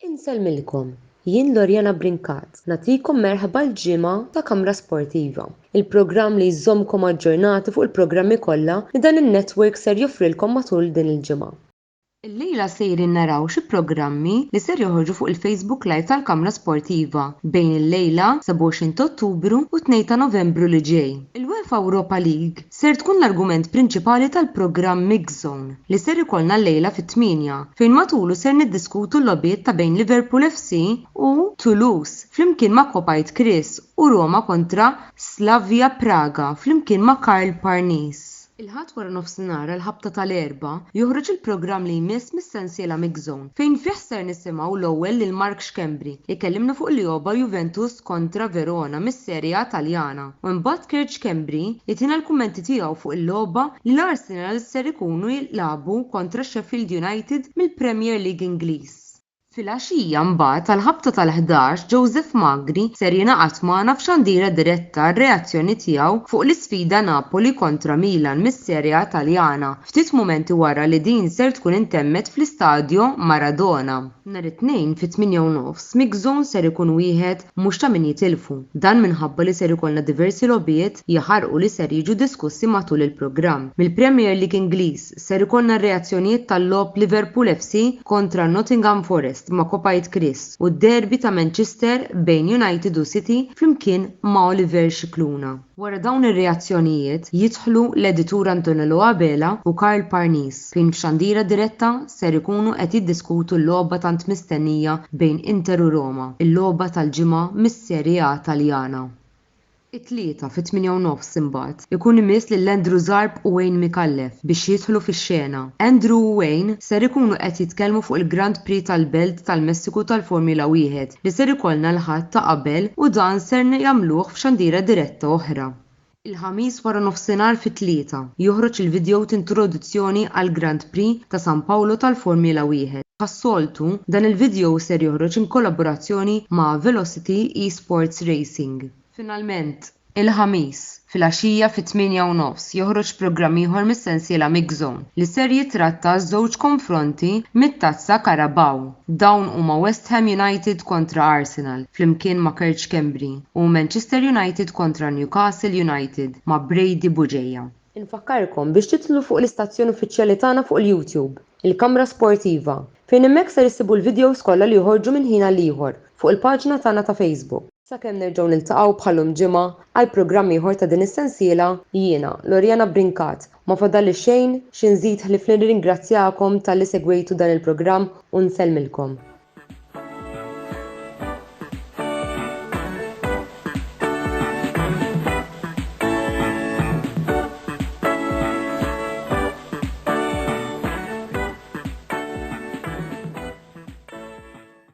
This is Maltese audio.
Insellmilkom, jien Loriana Brincat nagħtikom merħba l-ġimgħa ta' Kamra Sportiva, il-programm li jżommkom aġġornati fuq il-programmi kollha li dan in-network ser joffrilkom matul din il-ġimgħa. Illejla sejrin naraw xi programmi li ser joħorġu fuq il-Facebook Live tal-Kamra Sportiva bejn illejla, 27 t'Ottubru, u t-Tnejn ta' Novembru li ġej. Il-UEFA Europa League ser tkun l-argument prinċipali tal-programm Mix Zone li ser ikollna llejla fit-tmienja, fejn matulu ser niddiskutu l-logħbiet ta' bejn Liverpool FC u Toulouse flimkien ma' Kopajt Kris u Roma kontra Slavia Praga flimkien ma' Karl Parnis. Il-Ħadd waranofsinhar għall-ħabta tal-Erbgħa joħroġ il-programm li jmiss mis-sensiela Mix Zone fejn fih ser nisimgħu l-ewwel lil Mark Schembri ikellimna fuq l-Ioba Juventus kontra Verona mis-Serie A Taljana u imbagħad Kurt Schembri li tina l-kummenti tiegħu fuq il-logħba li l-Arsenal ser ikunu jilgħabu kontra Sheffield United mill-Premier League Ingliż. Filgħaxija mbagħad tal-ħabta tal-ħdax Joseph Magri ser jingħaqad magħna f'xandira diretta għar-reazzjoni tiegħu fuq l-isfida Napoli kontra Milan mis-Serie A Taljana ftit mumenti wara li din ser tkun intemmet fl-Istadio Maradona. Nhar it-Tnejn fit-tmienja u nofs, Mix Zone ser ikun wieħed mhux ta' min jitilfu. Dan minħabba li ser ikollna diversi logħbiet jaħarqu li ser jiġu diskussi matul il-programm. Mill-Premier League Ingliż, ser ikollna r-reazzjonijiet tal-logħob Liverpool FC kontra Nottingham Forest ma' Kopajt Christ u d-derby ta' Manchester bejn United u City flimkien ma' Oliver Scicluna. Wara dawn ir-reazzjonijiet jidħlu l-editur Antonello Abela u Karl Parnis fejn f'xandira diretta ser ikunu qed jiddiskutu l-logħba tant mistennija bejn Inter u Roma, il-logħba tal-ġimgħa mis-Serie A Taljana. It-Tlieta fit-tmienja u nofs imbagħad ikun imiss lil Andrew Zarb u Wayne Micallef biex jidħlu fix-xena. Andrew u Wayne ser ikunu qed jitkellmu fuq il-Grand Prix tal-Belt tal-Messiku tal-Formula Wieħed li ser ikollna l-Ħadd ta' qabel u dan ser jagħmluh f'xandiera diretta oħra. Il-Ħamis waranofsinhar fit-tlieta, joħroġ il-vidjow t'introduzzjoni għall-Grand Prix ta' San Paolo tal-Formula Wieħed. Bħas-soltu, dan il-vidjow ser joħroġ in kollaborazzjoni ma' Velocity Esports Racing. Finalment, Il-Ħamis, filgħaxija fit-tmienja u nofs, joħroġ programm ieħor mis-sensiela Mixzone, li ser jitratta żewġ konfronti mit-Tazza Carabao. Dawn huma West Ham United kontra Arsenal, flimkien ma' Kerch Kembri, u Manchester United kontra Newcastle United, ma' Brady Bugeja. Infakkarkom biex tidħlu fuq l-istazzjon uffiċjali tagħna fuq il-YouTube, Il-Kamra Sportiva, fejn hemmhekk ser issibu l-videos kollha li joħorġu minn ħin għal ieħor fuq il-paġna tagħna ta' Facebook. Sakemm nerġgħu niltaqgħu bħal-lum ġimgħa għal programm ieħor ta' din is-sensiela, jiena, Loriana Brincat, ma fadalli xejn xi nżid ħlief li nirringrazzjakom talli segwejtu dan il-programm u nsellmilkom.